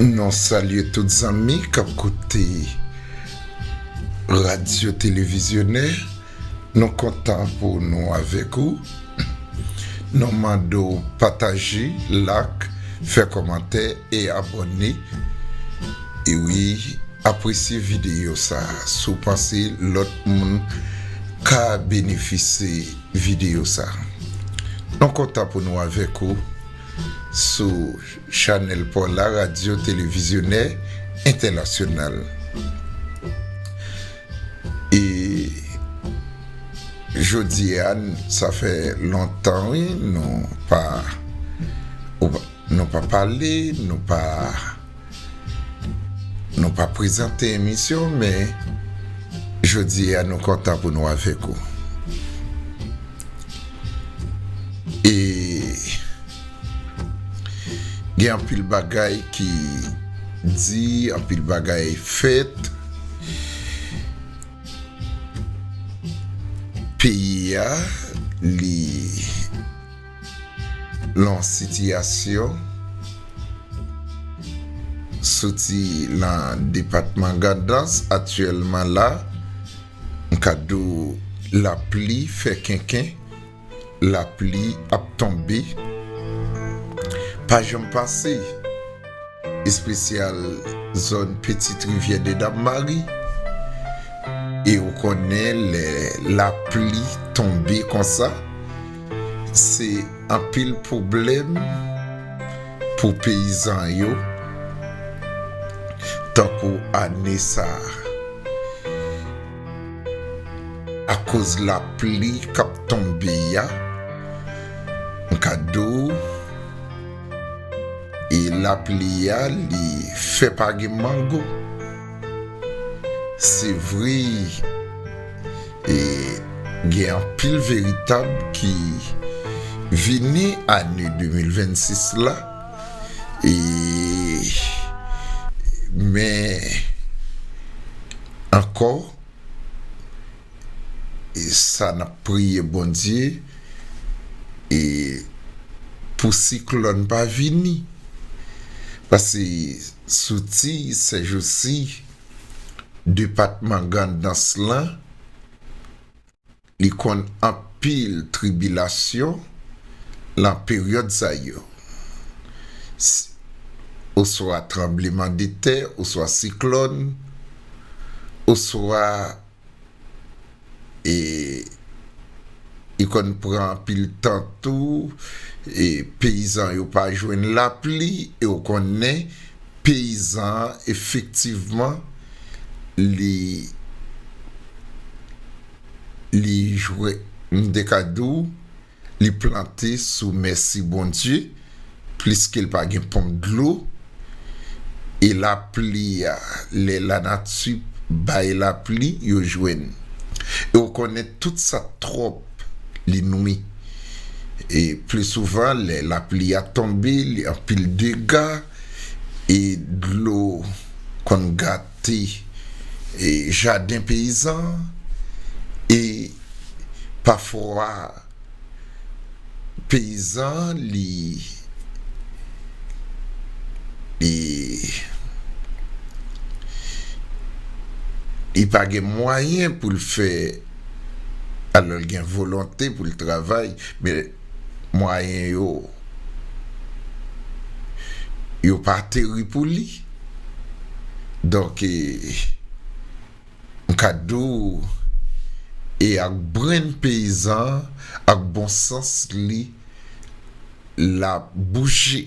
Nou salye tout zanmi k ap koute Radyo Televizyonè. Nou kontan pou nou avèk ou. Nou mande w pataje, lak, fè kòmantè e abòne. E wi, apresye videyo sa a si w panse lòt moun ka benefise videyo sa a. Nou kontan pou nou avèk ou sou. Chanèl Pò La Radyo Televizyonè Entènasyonal E jodi a sa fè lontan wi nou pa nou pa pale nou pa nou pa prezante emisyon men jodi a nou kontan pou nou avèk ou E Gen anpil bagay ki di, anpil bagay fèt. Peyi a li lan sitiyasyon soti lan depatman Gandans aktyèlman la m ka di w lapli fè kenken. Lapli ap tonbe pa janm pase espesyal zòn pitit rivyè de dam mari e ou konnen lè lapli tonbe konsa se anpil pwoblèm pou peyizan yo tankou ane sa. Akoz lapli k ap tonbe a, m ka di w, e lapli a li fè pa gen mango. Se vre e gen anpil veritab ki vini ane 2026 la. Men ankò sa n ap priye Bondye pou siklòn pa vini pase soti sèjousi depatman Grandans lan Li konn anpil tribilasyon lan peryòd sa yo, s, oswa tranbleman de tè, oswa siklòn, oswa e li konn pran anpil tan tou e peyizan yo pa jwenn lapli e ou konnen peyizan an efektivman li. li jwe m te ka di w li plante sou mèsi Bondye pliske l pa gen ponp dlo e lapli a lè lanati bay lapli yo jwenn e w konnen tout sa twòp li nwi e pli souvan lè lapli a tonbe li anpil dega e dlo konn gate. te jaden peyizan an e pafwa peyizan an li li pa gen mwayen pou l fè alò l gen volonte pou l travay men mwayen yo yo pa teri pou li donk m ka di w e ak brenn peyizan an ak bon sans li l ap bouje.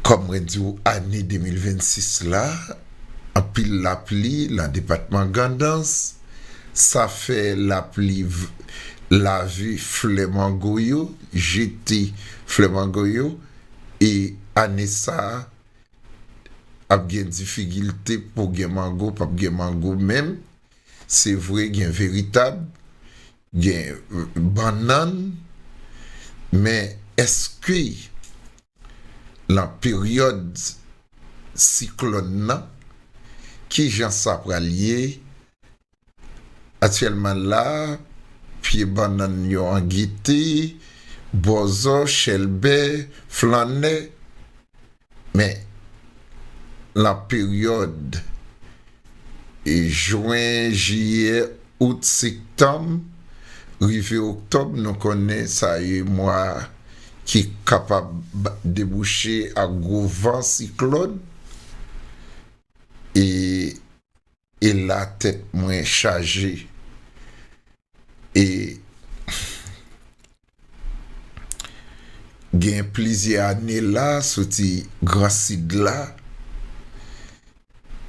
Kòm mwen di w ane 2026 la anpil lapli nan depatman Gandans sa fè lapli lave flè mango yo, jete flè mango yo e ane sa ap gen difikilte pou gen mango, pap gen mango menm se vre gen veritab. Gen bannann, men èske lan peryòd siklòn lan, ki jan sa pral ye? Aktyèlman la, pye bannann yo an gete, bòzò, chèlbè, flannè. Men, lan peryòd Jwen, Jiyè, Out, Sektanm, rive Oktòb nou konnen sa ye mwa ki kapab debouche ak gwo van siklòn e e la tèt mwen chaje e Gen plizyè ane la soti gran sid la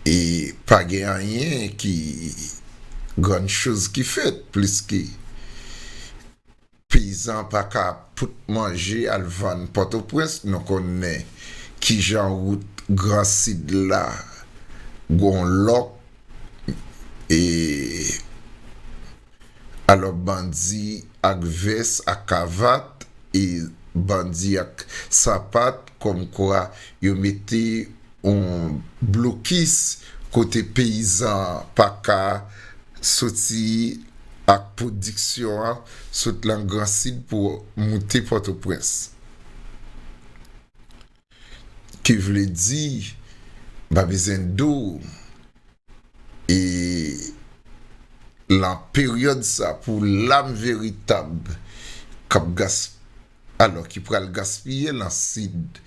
e pa gen anyen ki grann choz ki fèt pliske peyizan pa ka pot manje al vann pòtoprens nou konnen kijan wout gran sid la gon lòk e Alò bandi ak vès ak kavat e bandi ak sapat kòmkwa yo mete yon blokis kote peyizan an pa ka soti ak pwodiksyon an sot lan Gran Sid pou moute Pòtoprens. ki vle di m pa bezwen do w e lan peryòd sa pou lam veritab kap gas alò ki pral gaspiye lan sid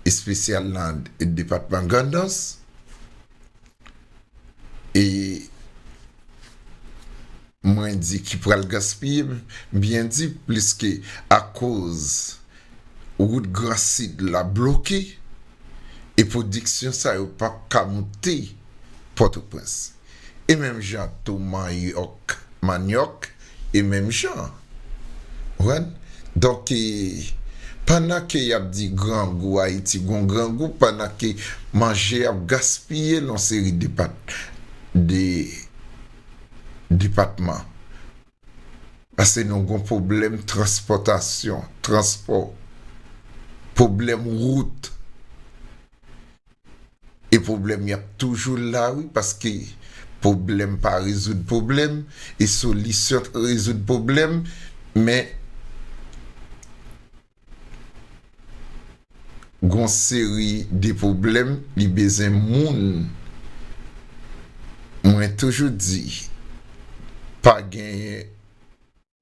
espesyal lan depatman Grandans. e mwen di ki pral gaspiye m byen di pliske akoz wout gran sid la bloke e pwodiksyon sa yo pa p ka moute Pòtoprens e menm jan tou manyòk e menm jan. Konprann? Donk e pandan ke yap di grangou Ayiti gon grangou pandan ke manje ap gaspiye nan yon seri depat de depatman. Pase nou gon pwoblèm transpòtasyon, transpò, pwoblèm wout. e pwoblèm yo ap toujou la wi paske pwoblèm pa rezoud pwoblèm e solisyon t k rezoud pwoblèm men gon seri de pwoblèm li bezwen moun mwen toujou di pa genyen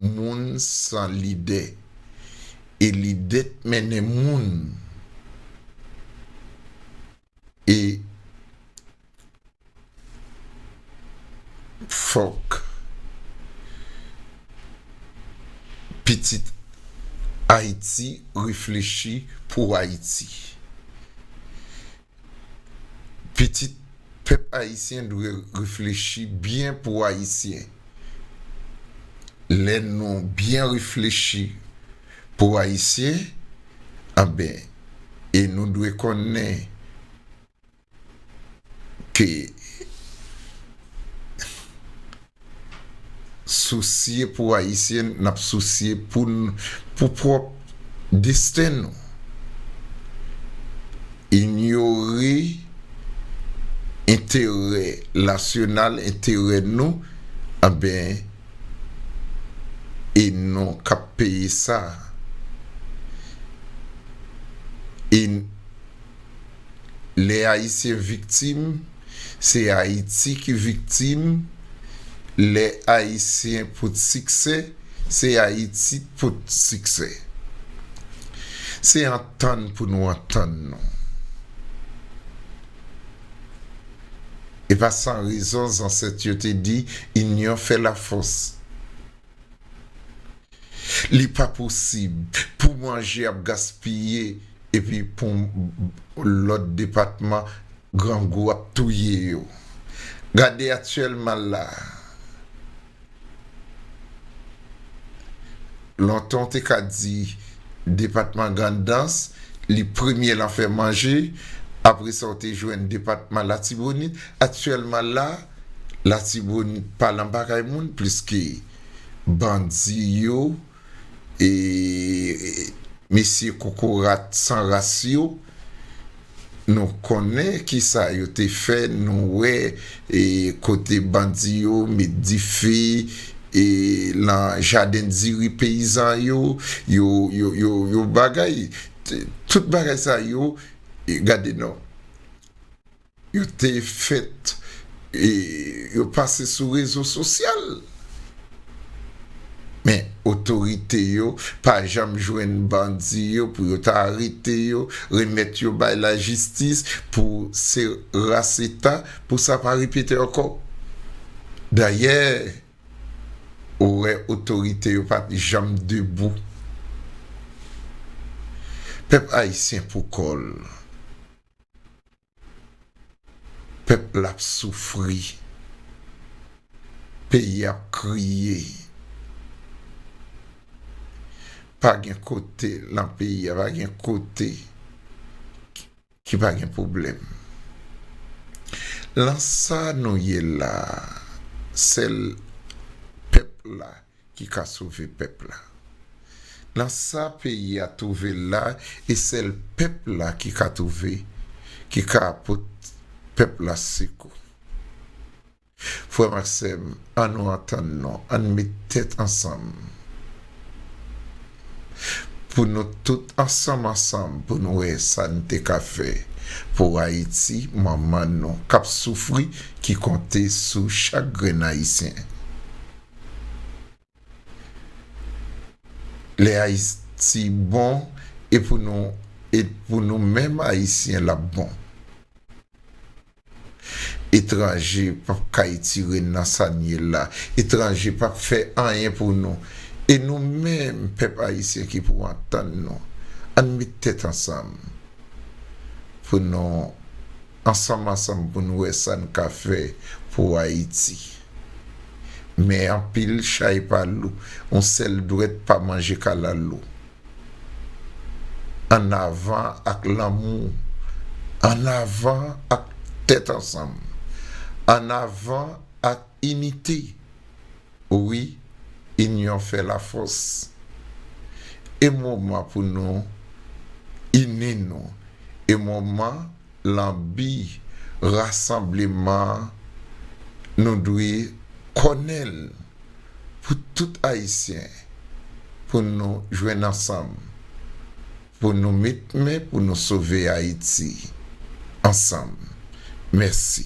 Moun san lide. E lide t mennen moun e fòk pitit Ayiti reflechi pou Ayiti. Pitit pèp ayisyen dwe reflechi byen pou ayisyen lè nou byen reflechi pou ayisyen anben e nou dwe konnen ke Sousye pou Ayisyen, n ap sousye pou n pou pwòp desten nou. Inyore enterè nasyonal, enterè nou, anben e nou k ap peye sa. Lè Ayisyen viktim, se Ayiti ki viktim, lè Ayisyen pot siksè, se Ayiti k pot siksè. Se antann pou nou antann nou. E pa san rezon zansèt yo te di, Inyon fè lafòs. Li pa posib pou manje ap gaspiye epi pou lòt depatman grangou ap touye yo. Gade aktyèlman la, lontan w te ka di depatman Grandans li premye lan fè manje, apresa w te jwenn depatman Latibonit, aktyèlman la, Latibonit pa lan bagay moun pliske bandi yo e mesye kokorat san ras yo nou konnen kisa yo te fè nou wè e kote bandi yo met dife e lan jaden diri peyizan yo yo yo yo bagay tout bagay sa yo gade non Yo te fèt e yo pase sou rezo sosyal. Men otorite yo pa janm jwenn bandi yo pou yo ta arete yo, remèt yo bay lajistis pou se ras eta pou sa pa repete ankò. Dayè ou wè otorite yo pat janm debou. Pèp ayisyen poukò l. Pèp la ap soufri. Peyi a ap kriye. Pa gen kote lan peyi a, pa gen kote ki pa gen pwoblèm. Lan sa nou ye la a, sèl pèp la ki ka sove pèp la nan sa peyi a twouve l la e sèl pèp la ki ka twouve ki ka pot pèp la sekou frè m ak sè m an nou antann nou an n met tèt ansanm pou nou tout ansanm ansanm pou n wè sa n te ka fè pou ayiti manman nou k ap soufri ki konte sou chak grenn ayisyen Lè Ayiti bon e pou nou e pou nou menm Ayisyen l ap bon. Etranje p ap ka etire n nan sa n ye la. Etranje p ap fè anyen pou nou. E nou menm pèp Ayisyen ki pou antann nou. Ann met tèt ansanm pou nou. Ansanm ansanm pou n wè sa n ka fè pou Ayiti. Men anpil chay pa lou, yon sèl dwèt pa manje kalalou. Ann avan ak lanmou, ann avan ak tèt ansanm, ann avan ak inite. Wi, inyon fè lafòs. E moman pou nou ini nou. E moman. Lan bi rasanbleman an, nou dwe kònen l pou tout Ayisyen, pou nou jwenn ansanm, pou nou met men pou nou sove Ayiti ansanm. Mèsi.